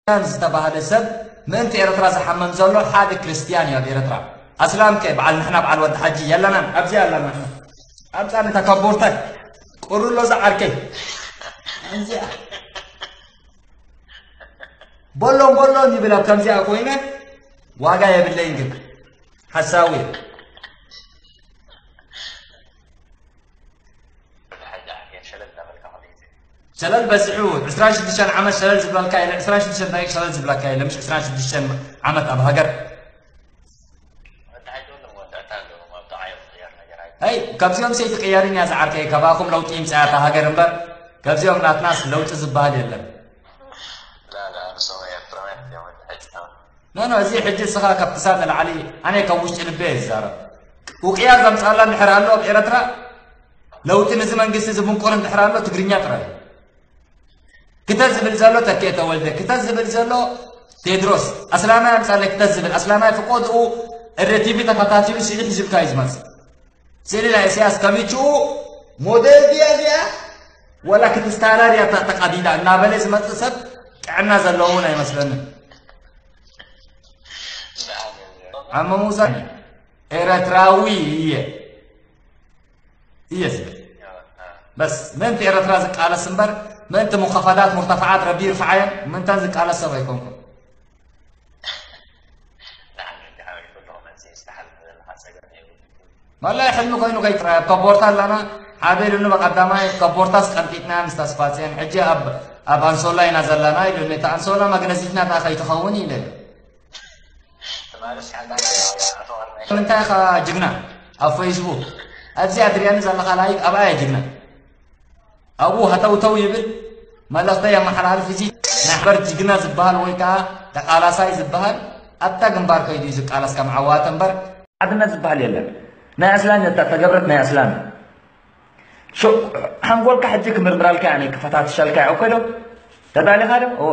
ኣስላም ዝተባህለ ሰብ ምእንቲ ኤረትራ ዝሓምም ዘሎ ሓደ ክርስትያን እዩ ኣብ ኤረትራ ኣስላም ከ በዓል ንሕና በዓል ወዲ ሓጂ የለናን ኣብዚ ኣለና ኣምጻኒ እታ ከቦርታይ ቁርሎ ዝዓርከይ ኣንዚኣ ቦሎን ቦሎን ይብል ኣብ ከምዚኣ ኮይነ ዋጋ የብለይን ግን ሓሳዊ ሕጂ ዓርኬን ሸለል እናበልካ ከመይ ትብል ሸለል በዚሑ ዕስራን ሽዱሽተን ዓመት ሸለል ዝብለልካ የለ ዕስራን ሽዱሽተን ደቂቅ ሸለል ዝብለካ የለ ምሽ ዕስራን ሽዱሽተን ዓመት ኣብ ሃገር ኣይ ካብዚኦም ሰይቲ ቅየርን እያ ዝዓርከይ ካባኹም ለውጢ ይምፅኣ እታ ሃገር እምበር ካብዚኦም ናትናስ ለውጢ ዝበሃል የለን ኖኖ እዚ ሕጂ እስኻ ካብ ክሳብ ንላዕሊ ኣነ ካብ ውሽጢ ልበ እየ ዝዛረብ ውቅያር ዘምፅኣላ እንድሕር ኣሎ ኣብ ኤረትራ ለውጢ ንዚ መንግስቲ ዝብንቁር እንድሕር ኣሎ ትግርኛ ጥራይ እዩ። ክተት ዝብል ዘሎ ተኬ ተወልደ፣ ክተት ዝብል ዘሎ ቴድሮስ ኣስላማይ ኣምጻለ ክተት ዝብል ኣስላማይ ፍቆድኡ እረ ቲቪ ተኸታቲሉ ስእሊ ሒዙልካ እዩ ዝመጽእ። ስእሊ ናይ ኢሳያስ ከሚችኡ ሞዴል ድያ እዚኣ ወላ ክትስታራር እያ ተቐዲዳ እናበለ ዝመጽእ ሰብ ጥዕና ዘለዎ እውን ኣይመስለንን። ኣብ ምውሳድ ኤረትራዊ እየ እየ ዝብል በስ ምእንቲ ኤረትራ ዝቃለስ እምበር ምእንቲ ሙኸፈዳት ሙርተፈዓት ረቢ ይርፍዓየን ምንተን ዝቃለስ ሰብ ኣይኮንኩን ማላይ ሕልሚ ኮይኑ ከይጥራይ ኣብ ከቦርታ ኣለና ሓደ ኢሉኒ በቀዳማይ ከቦርታስ ቀንጢጥና ምስ ተስፋፅየን ሕጂ ኣብ ኣንሶላ ኢና ዘለና ኢሉኒ እታ ኣንሶላ መግነዚትና ታ ከይትኸውን ኢለ ምንታይ ኢኻ ጅግና ኣብ ፈይስቡክ ኣብዚ ኣድርያኒ ዘለኻ ላይክ ኣብኣ እየ ጅግና ኣብኡ ሃተውተው ይብል መልእኽተ የመሓላልፍ እዚ ናይ ሓበር ጅግና ዝበሃል ወይ ከዓ ተቃላሳይ ዝበሃል ኣብታ ግንባር ከይዱ እዩ ዝቃለስ ከም ዓዋተ እምበር ሓድነት ዝበሃል የለን ናይ ኣስላም እታ ተገብረት ናይ ኣስላም ሓንጎልካ ሕጂ ክምርምራልካ እያ ክፈታትሸልካ እያ እኮ ዶ ተዳሊኻ ዶ እወ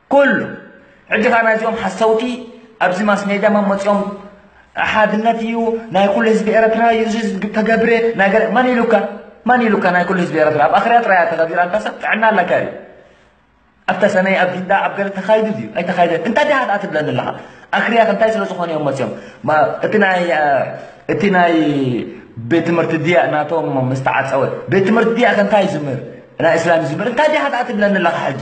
ኩሉ ሕጂ ከኣ ናይዚኦም ሓሰውቲ ኣብዚ ማስሜድያ መን መጺኦም ሓድነት እዩ ናይ ኩሉ ህዝቢ ኤረትራ እዩ እዚ ተገብረ ናይ ገለ መን ኢሉካ መን ኢሉካ ናይ ኩሉ ህዝቢ ኤረትራ ኣብ ኣኽርያ ጥራያ ተኸቢራ ኣንታ ሰብ ጥዕና ኣለካ እዩ ኣብ ተሰነይ ኣብ ጊንዳ ኣብ ገለ ተኻይዱ ድዩ ኣይተኻይደን እንታይ ድኣ ድኣ ትብለኒ ኣለኻ ኣኽርያ እንታይ ስለ ዝኾነ እዮም መፅኦም እቲ ናይ እቲ ናይ ቤት ትምህርቲ ድያ ናቶም ምስተዓፀወ ቤት ትምህርቲ ድያ ከ እንታይ ዝምህር ናይ እስላም ዝምህር እንታይ ድኣ ድኣ ትብለኒ ኣለኻ ሕጂ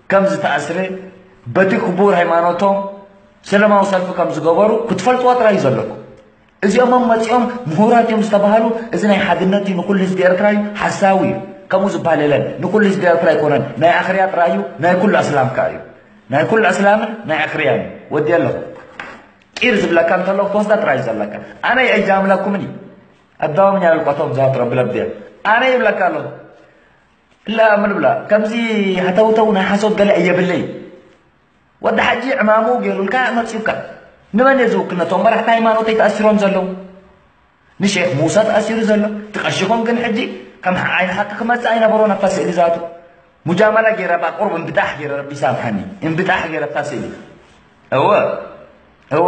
ከም ዝተኣስረ በቲ ክቡር ሃይማኖቶም ሰለማዊ ሰልፊ ከም ዝገበሩ ክትፈልጥዎ ጥራይ እዩ ዘለኩም እዚኦምም መፂኦም ምሁራት እዮም ዝተባሃሉ እዚ ናይ ሓድነት እዩ ንኩሉ ህዝቢ ኤርትራ እዩ ሓሳዊ እዩ ከምኡ ዝበሃል የለን ንኩሉ ህዝቢ ኤርትራ ኣይኮነን ናይ ኣኽርያ ጥራይ እዩ ናይ ኩሉ ኣስላም ከዓ እዩ ናይ ኩሉ ኣስላምን ናይ ኣኽርያን እዩ ወዲ ኣለኹ ቂር ዝብለካ እንተሎ ክትወስዳ ጥራይ እዩ ዘለካ ኣነ ኣይጃምለኩምን እዩ ኣዳዋምኛ ልቋቶም ዛት ረብለብድያ ኣነ ይብለካ ኣለኹ ክላ ምን ብላ ከምዚ ሃተውተው ናይ ሓሶት ገለ እየ ብለይ ወዲ ሓጂ ዕማሙ ገይሩልካ መፅዩካ ንመን እየ ዝውክል ነቶም መራሕቲ ሃይማኖተይ ተኣሲሮም ዘለዉ ንሼክ ሙሳ ተኣሲሩ ዘሎ ትቀሽኹም ግን ሕጂ ከም ዓይን ሓቂ ክመፅእ ኣይነበሮን ኣብታ ስእሊ ዛቱ ሙጃመላ ገይረ ባ ቁርብ እንብጣሕ ገይረ ረቢ ይሳምሓኒ እንብጣሕ ገይረ ኣብታ ስእሊ እወ እወ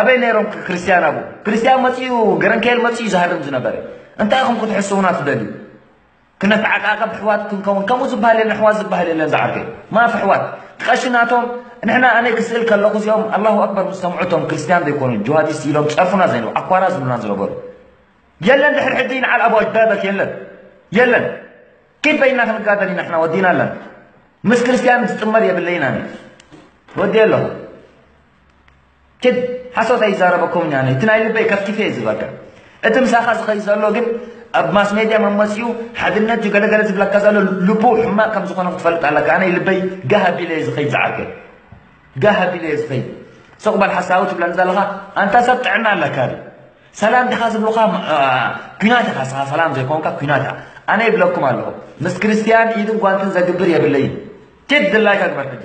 ኣበይ ነይሮም ክርስትያን ኣብኡ ክርስትያን መፅኡ ገረንከኤል መፅኡ ዝሃርም ዝነበረ እንታይ ኢኹም ክትሕስቡና ትደልዩ ክነተዓቃቀብ ኣሕዋት ክንከውን ከምኡ ዝበሃል የለን ኣሕዋት ዝበሃል የለን ዝዓርከይ ማፍ ኣሕዋት ቀሺ ናቶም ንሕና ኣነ ክስእል ከለኹ እዚኦም ኣላሁ ኣክበር ምስ ሰምዑ እቶም ክርስትያን ዘይኮኑ ጅሃዲስት ኢሎም ፀርፉና ዘይነበሩ ኣኳራ ዝብሉና ዝነበሩ የለን ድሕር ሕጂ ንዓል ኣቡ ኣጅዳደክ የለን የለን كيف بينا ክንጋደል ኢና ሕና ወዲና ኣለና ምስ ክርስትያን ዝጥመር የብለይና ወዲ ኣለኹ ኪድ ሓሶት ኣይዛረበኩምን ኣነ እቲ ናይ ልበይ ከፍቲፈ እየ ዝበልካ እቲ ምሳኻ ዝኸይ ዘሎ ግን ኣብ ማስ ሜድያ መመፅኡ ሓድነት እዩ ገለገለ ዝብለካ ዘሎ ልቡ ሕማቅ ከም ዝኾነ ክትፈልጥ ኣለካ ኣነ ልበይ ጋህ ኣቢለ እየ ዝኸይድ ዝዓርከይ ጋህ ኣቢለ እየ ዝኸይድ ስቕ በል ሓሳዊ ትብለኒ ዘለኻ ኣንታ ሰብ ጥዕና ኣለካ ድዩ ሰላም ዲኻ ዝብሉኻ ኩናት ኢኻ ስኻ ሰላም ዘይኮንካ ኩናት ኢኻ ኣነ ይብለኩም ኣለኹ ምስ ክርስትያን ኢድን ጓንትን ዘግብር የብለይን ኪድ ድላይካ ግበር ሕጂ